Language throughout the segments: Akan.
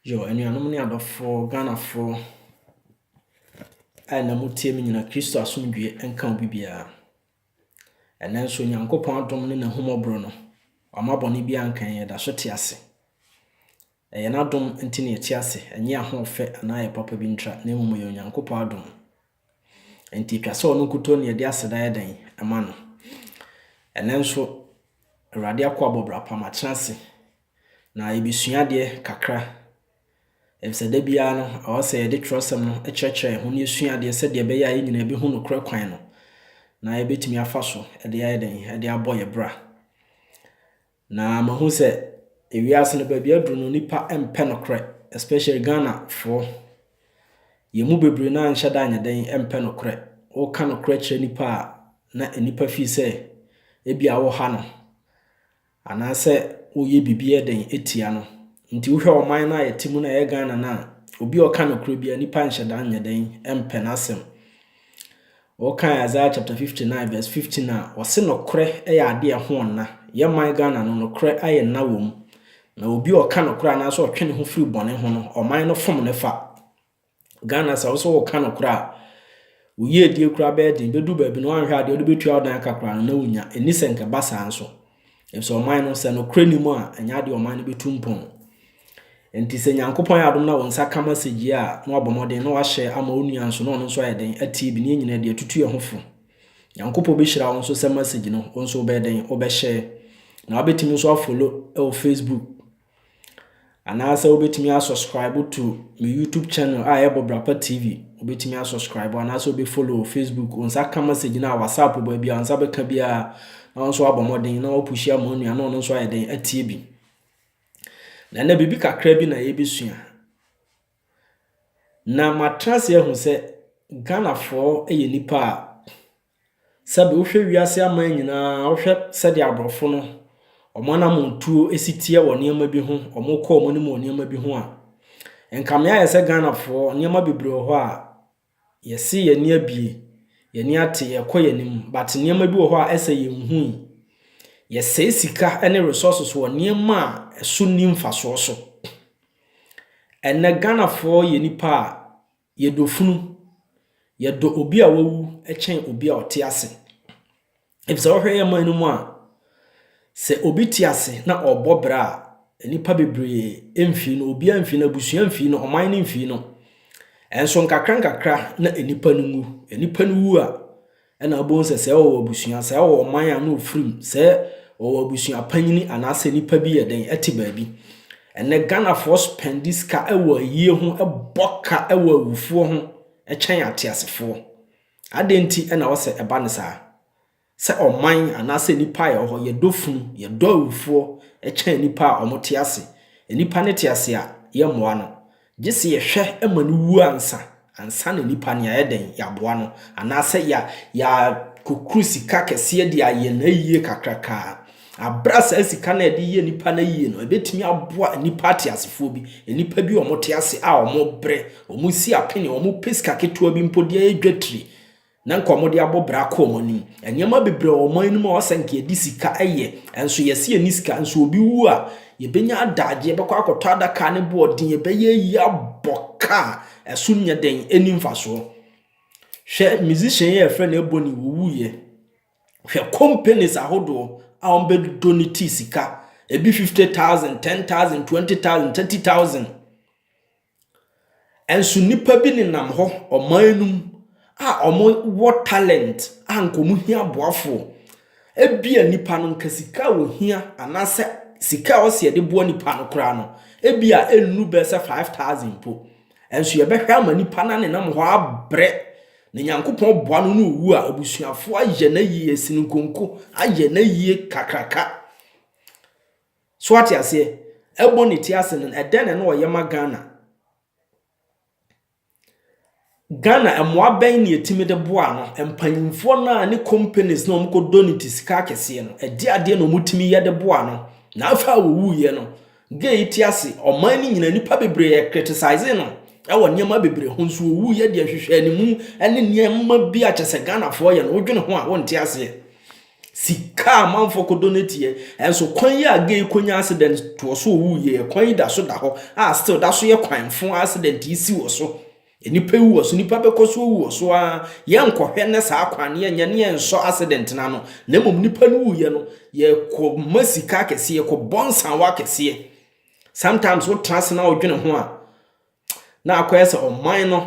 Yo, anuanom ne adɔfoɔ, Ghanafoɔ a ɛnnɛ motie me nyina, Kristo asomdwie nka obi biara. Ɛnnɛ nso Nyankopɔn adom ne n'ahummɔborɔ no, wama bɔne bi anka yɛn, yɛda so te ase. Ɛyɛ n'adom nti na yɛte ase, ɛnyɛ ahoɔfɛ anaa yɛ papa bi ntra, na mmom ɛyɛ Onyankopɔn adom. Nti ɛtwa sɛ ɔno nkutoo na yɛde aseda yɛ dɛn ɛma no. Ɛnnɛ nso, Awurade akoa bɔ bra pa, matena ase, Na yɛbɛsua adeɛ kakra, ɛfisɛ da biara no ɛwɔ sɛ yɛde twerɛsɛm no kyerɛkyerɛ yɛn ho na yɛsua adeɛ sɛdeɛ ɛbɛyɛ a yɛn nyinaa yɛbɛhu nokorɛ kwan no na yɛbɛtumi afa so de ayɛ dɛn, de abɔ yɛn bra. Na mahu sɛ ewiase no baabi aduru no nipa mpɛ nokorɛ especially Ghanafoɔ. Yɛn mu bebree no anhyɛ da nyɛ dɛn mpɛ nokorɛ. Woka nokorɛ kyerɛ nipa a na nipa fii sɛ ebi a woha no. anaasɛ woyɛ biribi yɛ den tia no nti wohwɛ ɔman no a yɛte mu no a ɛyɛ Ghana no a obi a ɔka nokorɛ bia nipa nhyɛ da nyɛ dɛn mpɛ n'asɛm wɔkan Isaiah chapter 59 verse 15 a wɔse nokorɛ yɛ adeɛ ɛho ɔnna yɛ man Ghana no nokorɛ ayɛ nna wɔ mu na obi a ɔka nokorɛ anaasɛ ɔtwe ne ho firi bɔne ho no ɔman no fom ne fa Ghana sɛ wo so woka no kora a, wo yiedie kora bɛyɛ den. Bɛdu baabi no wanhwɛ adeɛ wode bɛtua wo dan aka kora no na wonya. Ɛni sɛ nka ba saa nso. Ɛfisɛ ɔman no sɛ nokorɛ ni mu a, ɛnyɛ adeɛ ɔman no bɛtu mpɔn. Nti sɛ Nyankopɔn yɛ adom na wo nsa ka ma sɛgyie a, na wabɔ mmɔden na wahyɛ ama wo nua nso na ɔno nso ayɛ dɛn atie bi. Ne yɛn nyinaa deɛ tutu yɛn ho fo. Nyankopɔn bɛhyira wo nso sɛ message no wo nso wobɛyɛ dɛn wobɛhyɛ. Na wabɛtumi nso afolo wɔ Facebook. Anaasɛ wobɛtumi a subscribe to me YouTube channel a ɛbɔ Brapa TV. Wobɛtumi a subscribe anaasɛ wobɛ follow Facebook. Wo nsa ka message no a WhatsApp baabi a wo nsa bɛka biara na wo nso abɔ mmɔden na wapushi ama onua na ɔno nso ayɛ dɛn atie bi. Na ɛnɛ biribi kakra bi na yɛbɛsua. Na matena ase ahu sɛ Ghanafoɔ yɛ nipa a Sɛbe wohwɛ wiase aman nyinaa a, wohwɛ sɛdeɛ aborɔfo no wɔn anamontuo si teɛ wɔ nneɛma bi ho, wɔkɔ wɔn anim wɔ nneɛma bi ho a, nka me ayɛ sɛ Ghanafoɔ, nneɛma bebree wɔ hɔ a, yɛse yɛn ani abie, yɛn ani ate, yɛkɔ yɛn anim, but nneɛma bi wɔ hɔ a ɛsɛ yɛnhu yi. Yɛsɛe sika ne resources wɔ nneɛma a ɛso nni mfasoɔ so. Ɛnnɛ Ghanafoɔ yɛ nnipa a, Yɛdɔ funu. Yɛdɔ obi a wawu kyɛn obi a ɔte ase. Efisɛ wohwɛ yɛn man no mu a, sɛ obi te ase na ɔrebɔ bra a, nnipa bebree mfii no, obiara mfii no, abusua mfii no, ɔman no mfii no. Ɛnso nkakra nkakra na nnipa no wu. Nnipa no wu a, Ɛna wobɛhu sɛ sɛ wɔwɔ abusua, sɛ wɔwɔ ɔman a na ɔfiri mu, sɛ wɔwɔ abusua panyini anaasɛ nipa bi yɛ dɛn ɛte baabi. Ɛnɛ Ghanafoɔ spɛndi sika ɛwɔ ayie ho, ɛbɔ ka ɛwɔ awufoɔ ho ɛkyɛn ateasefoɔ. Adɛn nti ɛna wɔ sɛ ɛba ne saa? Sɛ ɔman anaasɛ nipa a yɛwɔ hɔ, yɛdɔ funu, yɛdɔ awufoɔ ɛkyɛn nipa a wɔte ase. Nipa no te ase a, yɛmmoa no. Gye sɛ yɛhwɛ ma no wu ansa, ansa na nipa no yɛayɛ dɛn, yɛaboa no, anaasɛ yɛ, yɛakɔkuru sika kɛseɛ de ayɛ no ayie kakraka a, berɛ a saa sika no a yɛde yɛ nipa no ayie no, ɛbɛtumi aboa nnipa ateasefoɔ bi, nnipa bi a wɔte ase a wɔbrɛ, wɔsi apene, wɔpɛ sika ketewa bi mpo de ayɛ dwatire. Na nka wɔde abɔ bra akɔ wɔn anim. Nneɛma bebree wɔ ɔman no mu a ɔsɛ nka yɛde sika yɛ, nanso yɛse yɛnni sika. Nanso obi wu a, yɛbɛnya adagyeɛ, yɛbɛkɔ akɔtɔ adaka ne boɔden, yɛbɛyɛ ayi abɔ ka a ɛso nyɛ den, ɛnni mfasoɔ. Hwɛ musician yi a yɛfrɛ no Ebony ɔwuiɛ. Hwɛ companies ahodoɔ a wɔbɛdodɔ ne ti sika, ebi fifty thousand, ten thousand, twenty thousand, thirty thousand. Nso nnipa bi nenam hɔ ɔman no mu a wɔwɔ talent a anka wɔhia aboafoɔ. Ebia nnipa no anka sika a wɔhia anaasɛ sika a wɔse wɔde boa nnipa no koraa no ebia ɛnnu bɛyɛ sɛ five thousand mpo. Nso yɛbɛhwɛ ama nnipa no anenam hɔ abrɛ na Nyankopɔn boa no na ɔwu a, abusuafoɔ ayɛ no ayie, asi no nkonko, ayɛ no ayie kakraka. So wate aseɛ? Ɛbɔ ne ti ase no, ɛdɛn na ɛno ɔyɛ ma Ghana? Ghana mmoa bɛn na yɛtumi de boa no? Mpanyinfoɔ no a ne companies na wɔkɔdɔ ne ti sika akɛseɛ no, ɛde adeɛ na wɔtumi yɛ de boa no. Na afei a wɔwuiɛ no, gay yi te ase, ɔman no nyinaa nnipa bebree yɛ criticise no ɛwɔ nneɛma bebree ho, nso ɔwuiɛ deɛ nhwehwɛanimu ne nneɛma bi a kyɛ sɛ Ghanafoɔ yɛ no, wodwene ho a wonte aseɛ. Sika a amanfoɔ kɔdɔ no teɛ, nso kwan yi a gay kɔnya accident toɔ so ɔwu yie yɛ, kwan yi da so da hɔ a still da so yɛ kwan fo a accident yi si wɔ so. Nnipa wu wɔ so, nnipa bɛkɔ so awu wɔ so ara, yɛnkɔhwɛ nnɛ saa kwan no, yɛnyɛ ne yɛnsɔ accident no ano, na mmom nnipa no wuiɛ no, yɛkɔma sika akɛseɛ, yɛkɔbɔ nsawa akɛseɛ. Sometimes wotena ase na wodwene ho a, Na akɔyɛ sɛ ɔman no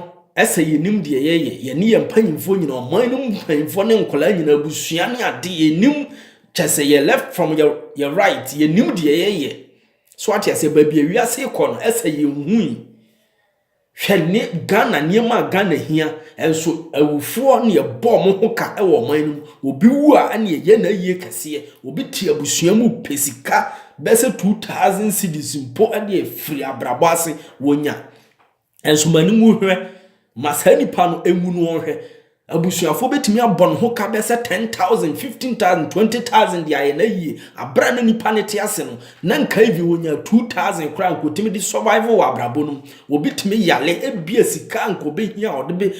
sɛ yɛnim deɛ yɛyɛ, yɛne yɛn mpanyimfoɔ nyinaa, ɔman no mu mpanyimfoɔ ne nkwadaa nyinaa, abusua ne ade, yɛnim kyɛ sɛ yɛ left from yɛ, yɛ right, yɛnim deɛ yɛyɛ. So ate aseɛ, baabi a wiase kɔ no, ɛsɛ yɛnhui. Hwɛ ne Ghana nneɛma a Ghana hia, ɛnso awufoɔ ne yɛbɔ mo ho ka wɔ ɔman no mu. Obi wu a ɛne ɛyɛ na ayie kɛseɛ, obi te abusua mu pɛ sika, Bɛsɛ two thousand cedis mpo de afiri abrabɔ ase wɔnya. Ɛnso ma ne ngu hwɛ. Ma saa nipa no ngu no ɔnhwɛ. Abusuafoɔ bɛtumi abɔ ne ho ka bɛsɛ ten thousand, fifteen thousand, twenty thousand de ayɛ no ayie. Aberɛ a na nipa no te ase no, na nka even ɔnya two thousand koraa nka ɔtumi de survive wɔ abrabɔ no mu. Obi tumi yale, ebia sika a nka ɔbɛhia a ɔde bɛ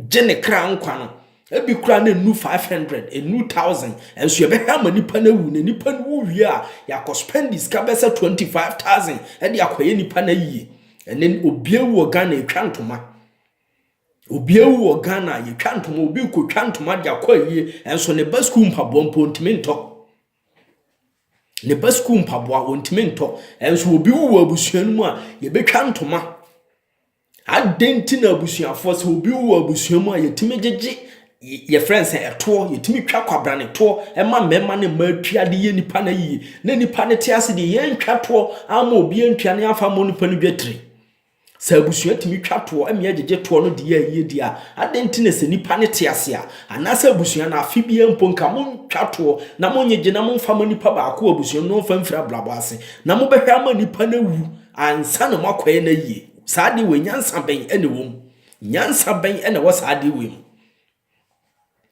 gye ne kra nkwa no, Ebi koraa na enu five hundred, enu thousand, nso yɛbɛhwɛ ama nipa no awu, na nipa no wu wie a, yɛakɔ spend sika bɛyɛ sɛ twenty five thousand de akɔyɛ nipa no ayie. Ɛnɛ obi awu wɔ Ghana yɛtwa ntoma. Obi awu wɔ Ghana yɛtwa ntoma, obi rekɔtwa ntoma de akɔ ayie, nso ne ba sukuu mpaboa mpo ntumi ntɔ. Ne ba sukuu mpaboa wɔntumi ntɔ, nso obi wu wɔ abusua no mu a, yɛbɛtwa ntoma. Adɛn nti na abusuafoɔ sɛ obi wɔ abusua mu a yɛtumi gyegye yɛfrɛ no sɛ ɛtoɔ yɛtumi twa kwabrane toɔ ɛma mmarima ne mmaa tua de yɛ nipa no ayie na nipa no te ase deɛ yɛntwa toɔ ama obi antua ne afa mmɔ nipa no dwatire sɛ abusua tumi twa toɔ ɛma yɛgyegye toɔ no de yɛ ayie deɛ a adɛn nti na sɛ nipa no te ase a anaasɛ abusua no afe biara mpo nka montwa toɔ na monyegye na momfa ma nipa baako abusua no na ɔmfa mfiri abrabɔ ase na mobɛhwɛ ama nipa no awu Ansa na moakɔyɛ no ayie. Saa adeɛ wei, nyansa bɛn na ɛwɔ mu? Nyansa bɛn na ɛwɔ saa adeɛ wei mu?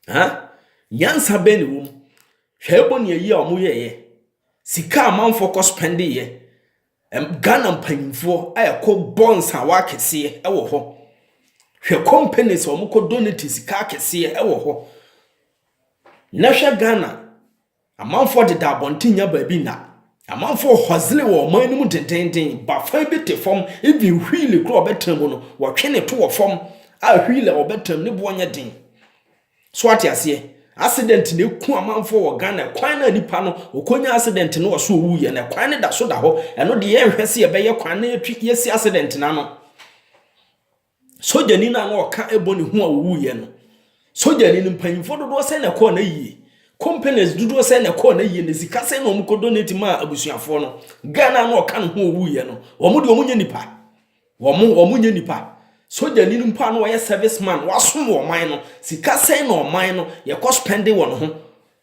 Ha? Nyansa bɛn na ɛwɔ mu? Hwɛ ɛbɔ ne ayi a wɔyɛeɛ. Sika amanfoɔ kɔ spɛndeeɛ. Ghana mpanyinfoɔ a ɛkɔ bɔ nsawa akɛseɛ ɛwɔ hɔ. Hwɛ companies a wɔkɔ donate sika akɛseɛ ɛwɔ hɔ. Na hwɛ Ghana Amanfoɔ deda abɔnten nya baabi nna. Amanfoɔ hɔzle wɔ ɔman no mu dendennden, ba fan bi te fam, even wheel koraa a ɔbɛtra mu no, wɔtwe no to wɔ fam a wheel a ɔbɛtra mu ne boɔ nyɛ den. So ate aseɛ? Accident na ɛku amanfoɔ wɔ Ghana, kwan no a nipa no ɔkɔnya accident no wɔ so ɔwuiɛ no, kwan no da so da hɔ, ɛno deɛ yɛnhwɛ sɛ yɛbɛyɛ kwan no na yɛsi accident no ano. sogyani no a na ɔka bɔ ne ho a ɔwuiɛ no sogyani no mpanyimfoɔ dodoɔ sɛ na ɛkɔɔ no yie companies dodoɔ sɛ na ɛkɔɔ no yie na sika sɛ na wɔn kɔ donate maa abusuafoɔ no ghana na ɔka ne ho owuiɛ no wɔn de wɔn nyɛ nipa wɔn wɔn nyɛ nipa sogyani no mpo a na ɔyɛ service man wasom wɔn man no sika sɛ na ɔman no yɛkɔ spending wɔn ho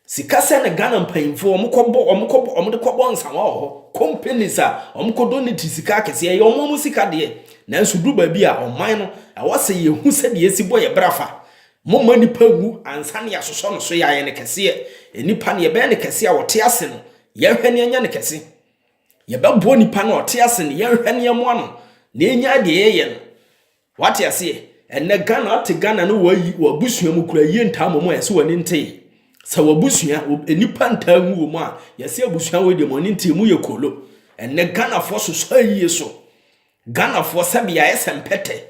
Sika sɛn na Ghana mpanyimfo wɔn kɔ bɔ wɔn kɔ bɔ wɔn de kɔ bɔ nsawa wɔ hɔ. Companies a wɔn kɔ dɔ ne ti sika akɛseɛ ɛyɛ wɔn wɔn sika deɛ. Nanso du baabi a ɔman no ɛwɔ sɛ yɛ hu sɛdeɛ yɛsi bɔ yɛ bra fa. Mo mma nipa nwu ansa na yɛ asosɔ no so yɛ ayɛ no kɛseɛ. Nipa no yɛ bɛyɛ no kɛse a ɔte ase no yɛ nhwɛ na yɛ nyɛ no kɛse. Yɛ bɛ boa nipa no a ɔte ase no yɛ nhwɛ na yɛ moa no na yɛ nya deɛ yɛ yɛ no. Wate aseɛ? Ɛnnɛ Ghana ate Ghana no wɔayi wɔ abusua mu kura ayie ntaa mmom a ɛsɛ w'ani nte sɛ w'abusua nnipa ntaa nwu wɔ mu a yɛse abusua wei deɛ mo ani nte mo yɛ koolo ɛnnɛ Ghanafoɔ sosɔ ayie so Ghanafoɔ sɛbe yɛayɛ sɛ mpɛtɛ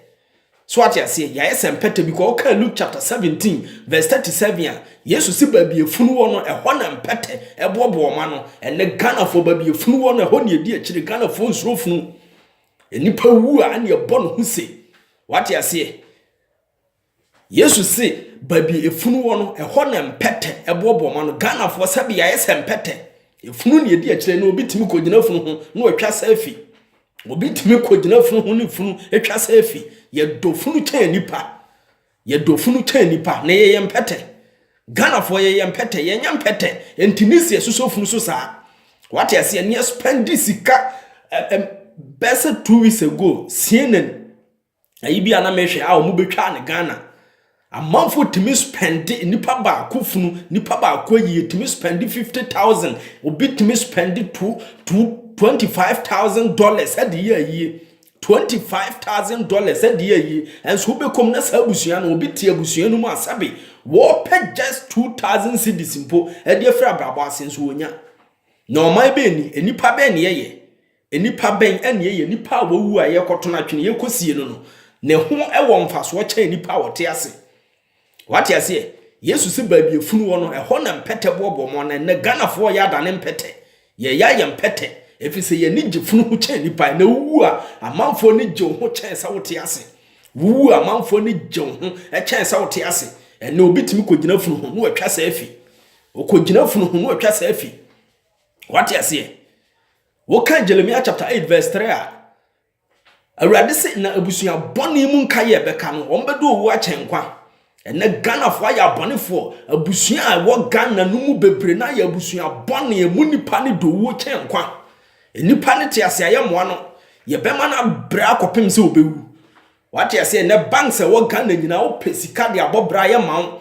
so wate aseɛ yɛayɛ sɛ mpɛtɛ because woka Luke chapter 17 verse 37 a Yesu se baabi efunu wɔ no ɛhɔ na mpɛtɛ ɛboɔboɔ ma no ɛnnɛ Ghanafoɔ baabi efunu wɔ no ɛhɔ ne ɛdi akyire Ghanafoɔ nsuro funu Nnipa wu a, ɛne ɛbɔ no ho se. Wate aseɛ? Yesu se, baabi efunu wɔ no, ɛhɔ na mpɛtɛ ɛboɔboɔ ma no. Ghanafoɔ sɛbi yɛayɛ sɛ mpɛtɛ. Efunu ne ɛdi akyire no, obi tumi kɔgyina funu ho na watwa selfie. Obi tumi kɔgyina funu ho ne funu atwa selfie. Yɛdɔ funu kyɛn nipa. Yɛdɔ funu kyɛn nipa na yɛyɛ mpɛtɛ. Ghanafoɔ yɛyɛ mpɛtɛ, yɛnyɛ mpɛtɛ. Nti ne si ɛsosɔ funu so saa. Wate aseɛ ne ɛspɛndi sika ɛm bɛɛ sɛ two weeks ago CNN ɛyi bi a na mehwɛ a wɔn bɛtwa ne Ghana. Amanfoɔ tumi spɛndi nipa baako funu, nipa baako ayi yɛtumi spɛndi fifty thousand, obi tumi spɛndi two two twenty five thousand dollars ɛde yɛ ayie. Twenty five thousand dollars ɛdeɛ ayi ɛnso wobɛkɔm na saa abusua no obi te abusua no mu a sɛbe wɔpɛ just two thousand cedis mpo ɛde afiri abrabɔ ase nso wɔnya na ɔman bɛn ni nnipa bɛn ne yɛyɛ nnipa bɛn ɛne yɛyɛ nnipa a wɔwu a yɛkɔtono atwene yɛkɔsie no no ne ho ɛwɔ mfasoɔ kyɛn nnipa a wɔte ase Wate aseɛ? Yesu se baabi afunu wɔ no, ɛhɔ na mpɛtɛ boɔboɔ mo ano. Ɛnnɛ, Ghanafoɔ reyɛ adane mpɛtɛ. Yɛreyɛ ayɛ mpɛtɛ, ɛfiri sɛ yɛn ani gye funu ho kyɛn nnipa. Ɛnnɛ, wowu a, amanfoɔ ani gye wo ho kyɛn sɛ wote ase. Wowu a, amanfoɔ ani gye wo ho kyɛn sɛ wote ase. Ɛnnɛ, obi tumi kɔgyina funu ho na watwa saa afi. Ɔkɔgyina funu ho na watwa saa afi. Wate aseɛ? Wokan Jeremia chapter 8 verse 3 a, Awurade se na abusua bɔne mu nka yɛ bɛka no wɔn bɛdɔ owu akyɛn nkwa. Ɛnɛ Ghanafoɔ ayɛ abɔnefoɔ. Abusua a ɛwɔ Ghana no mu bebree no ayɛ abusua bɔne. Emu nipa no dɔ owuo kyɛn nkwa. Nipa no te ase a yɛmmoa no. Yɛbɛma no abrɛ akɔpem sɛ ɔbɛwu. Wate aseɛ? Ɛnɛ banks a ɛwɔ Ghana nyinaa wopɛ sika de abɔ bra yɛma wo.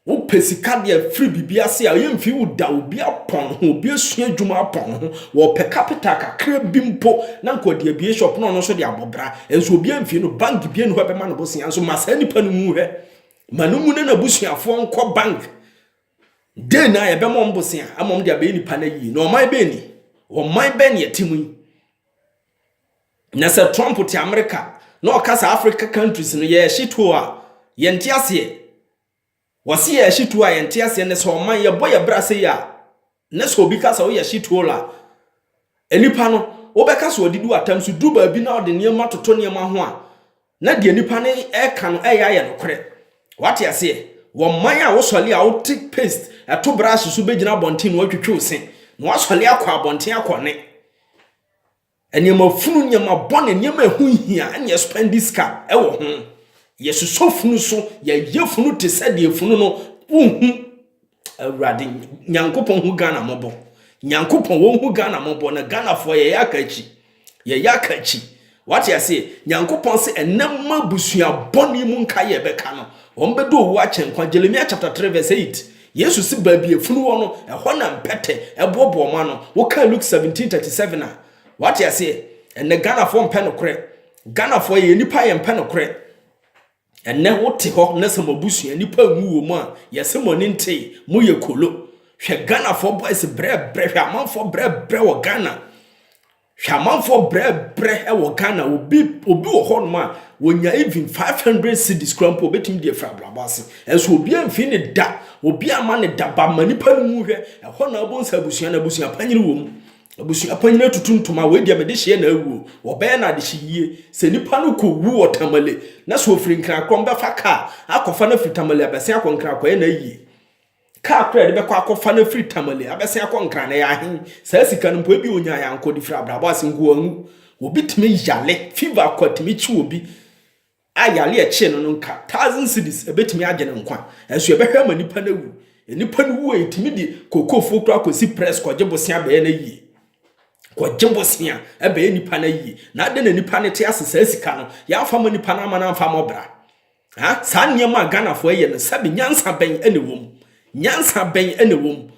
Wo pɛ sika deɛ firi biribi ase a yɛn mfi wo da obi apɔn ho obi asua adwuma apɔn ho wɔ pɛ capital kakra bi mpo na nka ɔde abie shop na ɔno nso de abɔ bra nso obi amfi no bank bie ne hɔ ɛbɛma no bosea nso ma saa nipa no mu hɛ ma no mu na n'abusuafoɔ nkɔ bank den na yɛbɛma wɔn bosea ama wɔn de abɛyɛ nipa no ayie na ɔman bɛn ni ɔman bɛn ne ɛte mu yi Na sɛ Trump te America na ɔkasa Africa countries no yɛ shithole a yɛnte aseɛ. Wɔse yɛ shithole a yɛnte aseɛ ne sɛ ɔman yɛbɔ yɛ bra sei a ne sɛ obi kasa woyɛ shithole a nnipa no wobɛka sɛ ɔde du atam so duru baabi na ɔde nneɛma toto nneɛma ho a na deɛ nnipa no ɛka no ɛyɛ ayɛ nokorɛ. Wate aseɛ? Wɔ man a wosɔle a wote paste ɛto brush so bɛgyina abɔnten na watwitwiw se na wasɔle akɔ abɔnten akɔ ne Nneɛma funu, nneɛma bɔne, nneɛma a ɛho nhia na yɛspɛnde sika wɔ ho. Yɛsosɔ funu so, yɛyɛ funu te sɛ deɛ funu no wonhu Awurade Nyankopɔn hu Ghana mmɔbɔ. Nyankopɔn wɔnhu Ghana mmɔbɔ na Ghanafoɔ yɛyɛ aka akyi. Yɛyɛ aka akyi. Wate aseɛ? Nyankopɔn se ɛnɛ mma abusua bɔne mu nkaeɛ bɛka no. Wɔbɛdɔ owu akyɛ nkwa. Jeremia chapter 3 verse 8. Yesu se baabi a funu wɔ no, ɛhɔ na mpɛtɛ boɔboɔ mo ano. Wokan Luke 17:37 a, wate aseɛ. Ɛnɛ Ghanafoɔ mpɛ nokorɛ. Ghanafoɔ yɛyɛ nipa a yɛmpɛ nokorɛ. Ɛnɛ wote hɔ na sɛ mo abusua nipa nwu wɔ mu a, yɛse mo ani ntee, moyɛ kolo. Hwɛ Ghanafoɔ boys brɛbrɛ, hwɛ amanfoɔ brɛbrɛ wɔ Ghana. Hwɛ amanfoɔ brɛbrɛ wɔ Ghana obi obi wɔ hɔ nom a wɔnya even 500 cities kura mpo obɛtumi deɛ firi abrabɔ ase ɛnso obi amfiri ne da obi ama ne da ba ma nipa no mu hwɛ ɛhɔ na abɔ nsa abusua na abusua panyini wɔ mu abusua panyini atutu ntoma wei deɛ mede hyeɛ na awuo wɔbɛyɛ na adehye yie sɛ nipa no kɔ wu wɔ tamale na sɛ ofiri nkran korɔ mbɛfa kaa akɔfa no afiri tamale abɛsen akɔ nkran akɔyɛ na ayie Kaa koro a yɛde bɛkɔ akɔfa no afiri Tamale abɛsen akɔ Nkran no, ɛyɛ ahe? Saa sika no mpo, ebia onyae a anka ɔde firi abrabɔ ase nkoahu. Obi tumi yare, fever kwa tumi kye obi a yare a ɛkyee no no nka thousand cedis, ebetumi agye ne nkwa. Nanso yɛbɛhwɛ ama nipa no awu. Nipa no wu a, yetumi de kookofuo koraa kɔsi press kɔgye bosea bɛyɛ no ayie. Kɔgye bosea ɛbɛyɛ nipa no ayie. Na adɛn na nipa no te ase saa sika no, yɛamfa ma nipa no amma no amfa ammɔ bra? Ah, saa nneɛma a Ghanafoɔ ɛyɛ no, sɛbi nyansa bɛn ɛna ɛwɔ mu? Nyansa bɛn ɛna ɛwɔ mu?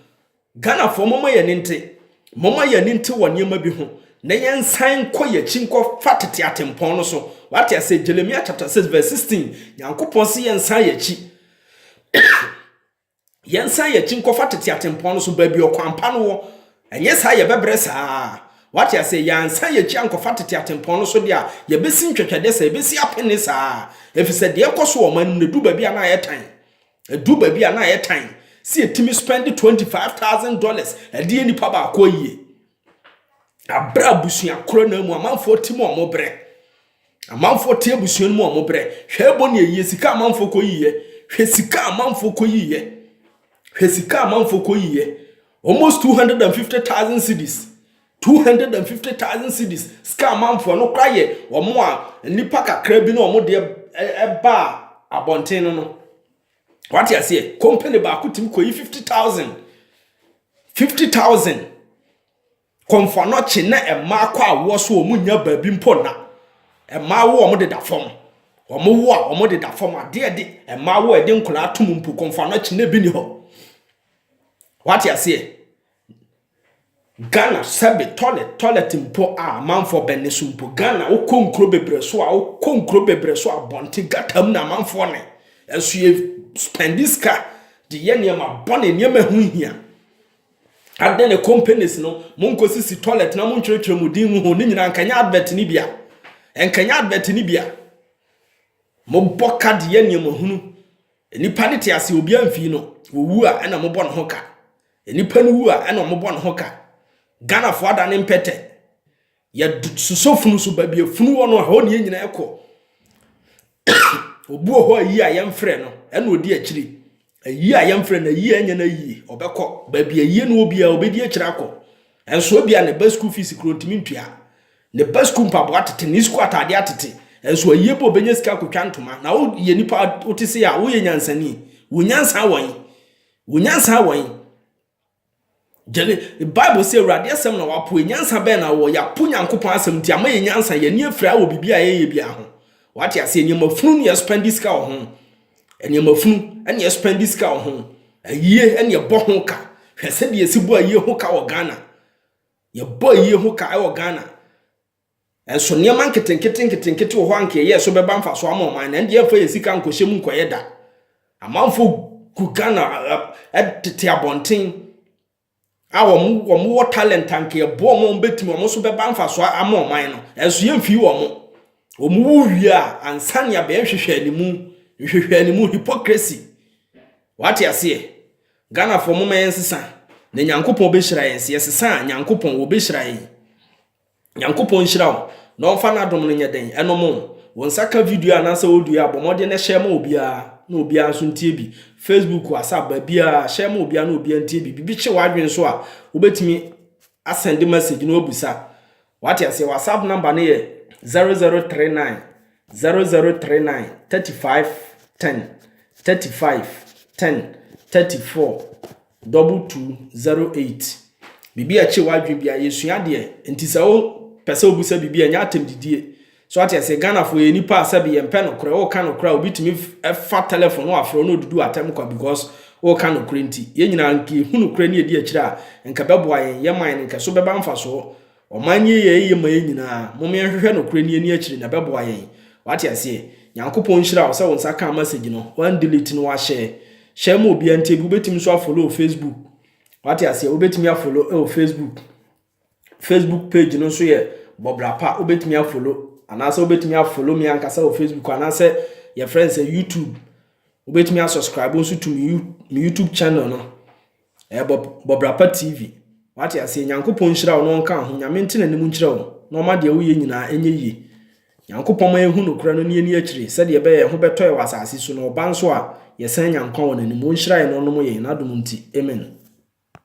Ghanafoɔ mɔmɔ yɛ ne nte, mɔmɔ yɛ ne nte wɔ nneɛma bi ho, na yɛn nsan nkɔ yɛ akyi nkɔ fa tete atempɔn no so. Wate ase? Jeremiah chapter 6 verse 16, Nyankopɔn se yɛn nsan yɛ akyi. Yɛnsan yɛn akyi nkɔfa tete atempɔn no so, baabi a ɔkwan pa no wɔ. Ɛnyɛ saa a, yɛbɛbrɛ saa ara. Woate aseɛ? Yɛansan yɛn akyi ankɔfa tete atempɔn no so deɛ a, yɛbɛsi ntwɛtwɛdeɛ saa, yɛbɛsi apene saa ara, ɛfiri sɛ deɛ ɛkɔ so wɔ ɔman no mu no, ɛduru baabi a na ayɛ tan. Ɛduru baabi a na ayɛ tan sɛ yɛtumi spɛnde twenty five thousand dollars de yɛ nipa baako ayie. Abrɛ abusua korɔ no ara mu, amanfoɔ ti mu wɔbrɛ. Amanfoɔ te abusua no mu a wɔn brɛ. Hwɛ ɛbɔ ne ayie sika a amanfoɔ kɔ yiiɛ. Hwɛ sika a amanfoɔ kɔ yiiɛ. Hwɛ sika a amanfoɔ kɔ yiiɛ. Almost 250,000 cedis. 250,000 cedis. Sika a amanfoɔ ɛno koraa yɛ wɔn a nnipa kakra bi na wɔn deɛ ɛbaa abɔnten no no. Wate aseɛ? Company baako tumi kɔyi 50,000. 50,000. Kɔmfoanɔkye na mmaa kɔ awoɔ so a wɔn nnya baabi mpo nna. Mmaa wo a wɔn deda fam. Wɔn wo a wɔn deda fam. Adeɛ a ɛde mmaa wo a ɛde nkwadaa to mu mpo kɔmfoanɔkye na ebi nni hɔ. Wate aseɛ? Ghana sɛbe toilet toilet mpo a amanfoɔ bɛne so mpo. Ghana wokɔ nkuro bebree so a wokɔ nkuro bebree so a abɔnten gutter mu na amanfoɔ ne. Nso yɛ spend sika de yɛ nneɛma bɔne nneɛma ɛho nhia. Adɛn na companies no monkɔsisi toilet na montwerɛtwerɛ mo din ho ne nyinaa nkanyɛ advert no bia nkanyɛ advert no bia mobɔ ka de yɛ nneɛma hunu nipa ne te ase obi amfii no wɔwu a ɛna mobɔ ne ho ka nipa no wu a ɛna mobɔ ne ho ka ghanafoɔ ada ne mpɛtɛ Yɛsosɔ funu so baabi a funu wɔ no a hɔ ne yɛn nyinaa kɔ. Obi wɔ hɔ a yie a yɛmfrɛ no ɛna ɔdi akyiri. Ayie a yɛmfrɛ no ayie a ɛnyɛ no ayie ɔbɛkɔ. Baabi a ayie no wɔ biara ɔbɛdi akyiri akɔ. Nso ebi a ne ba sukuu fees kuro ntumi ntua. Ne ba sukuu mpaboa atete, ne sukuu ataadeɛ atete. Nso ayie bɔ ɔbɛnya sika akɔtwa ntoma. Na woyɛ nipa wote se a woyɛ nyansani. Wo nyansa wɔn? Wo nyansa wɔn? Gyene, Bible se Awurade asɛm na wɔapoe. Nyansa bɛn na wɔwɔ? Yɛapo Nyankopɔn asɛm nti ama yɛn nyansa, yɛn ani afira wɔ biribi a ɛnyɛ biara ho. Wate aseɛ? Nneɛma funu ne yɛspendi sika wɔ ho. Nneɛma funu ne yɛspendi sika wɔ ho. Ayie ne yɛbɔ ho ka. Hwɛ sɛdeɛ yɛsi bɔ ayie ho ka wɔ Ghana. Yɛbɔ ayie ho ka wɔ Ghana. Nanso nneɛma nketenkete nketenkete wɔ hɔ a anka yɛyɛɛ so bɛba mfaso ama ɔman no, ɛnde yɛmfa yɛn sika nkɔhyɛ mu nkɔyɛ da. Amanfo gu Ghana tete abɔnten a wɔn wɔn wɔ talent anka yɛboa wɔn a wɔbɛtumi wɔn nso bɛba mfaso ama ɔman no, nanso yɛmfii wɔn. Wɔn wu wie a, ansa ne abɛn nhwehwɛ animu, nhwehwɛ animu, hypocrisy. Wate aseɛ? Ghanafoɔ momma yɛnsesa na Nyankopɔn bɛhyira yɛn, sɛ yɛsesa a Nyankopɔn wɔbɛhyira yɛn. Nyankopɔn nhyira wo na ɔmfa n'adom no nyɛ dɛn ɛnom wo. Wo nsa ka video anaasɛ audio a, bɔ mmɔden na share ma obiara na obiara nso ntie bi. Facebook, WhatsApp, baabiara, share ma obiara na obiara ntie bi. Biribi kye w'adwene nso a, wobɛtumi asɛnde message na wabisa. Wate aseɛ, WhatsApp number no yɛ 0039 0039 35 10 35 10 34 Double two zero eight Biribi a ɛkye w'adwene bia yɛsua adeɛ nti sɛ wo pɛ sɛ wobisa biribi a ɛnyɛ atɛm didie so ate aseɛ Ghana foɔ yɛ nipa a sɛbi yɛn pɛ nokorɛ wo ka nokorɛ a obi tumi fa telephone no wafrɛ wo na odudu atɛm kwa because wo ka nokorɛ nti yɛn nyinaa nka yɛhu nokorɛ ne yɛdi akyire a nka ɛbɛboa yɛn yɛn man no nka ɛso bɛba mfasoɔ Ɔman nneyɛeɛ ye ma yɛn nyinaa, mom yɛnhwehwɛ nokorɛ ni ani akyire na ɛbɛboa yɛn, wate aseɛ? Nyankopɔn nhyira wo sɛ wo nsa kaa message no, wan delete no wa share, share ma obiara ntie bi, wobɛtumi nso a follow wɔ Facebook, wate aseɛ? Wobɛtumi a follow ɛwɔ Facebook, Facebook page no nso yɛ Bɔbra Pa, wobɛtumi a follow, anaasɛ wobɛtumi a follow me ankasa wɔ Facebook, anaasɛ yɛfrɛ no sɛ YouTube, wobɛtumi a subscribe nso to me YouTube channel no, Ɛyɛ bɔ bɔ bra pa TV. Wate aseɛ nyankopɔn nhyira wo na ɔnka ho nyame nte n'anim nkyerɛ wo na ɔma deɛ woyɛ nyinaa ɛnyɛ yie nyankopɔn ma yɛhu nokorɛ no na yɛni akyire sɛdeɛ ɛbɛyɛ yɛn ho bɛtɔ yɛ wɔ asase so na ɔba nso a yɛsan nya nkwa wɔ n'anim ɔnhyira yɛn na ɔnom yɛn n'adom nti amen.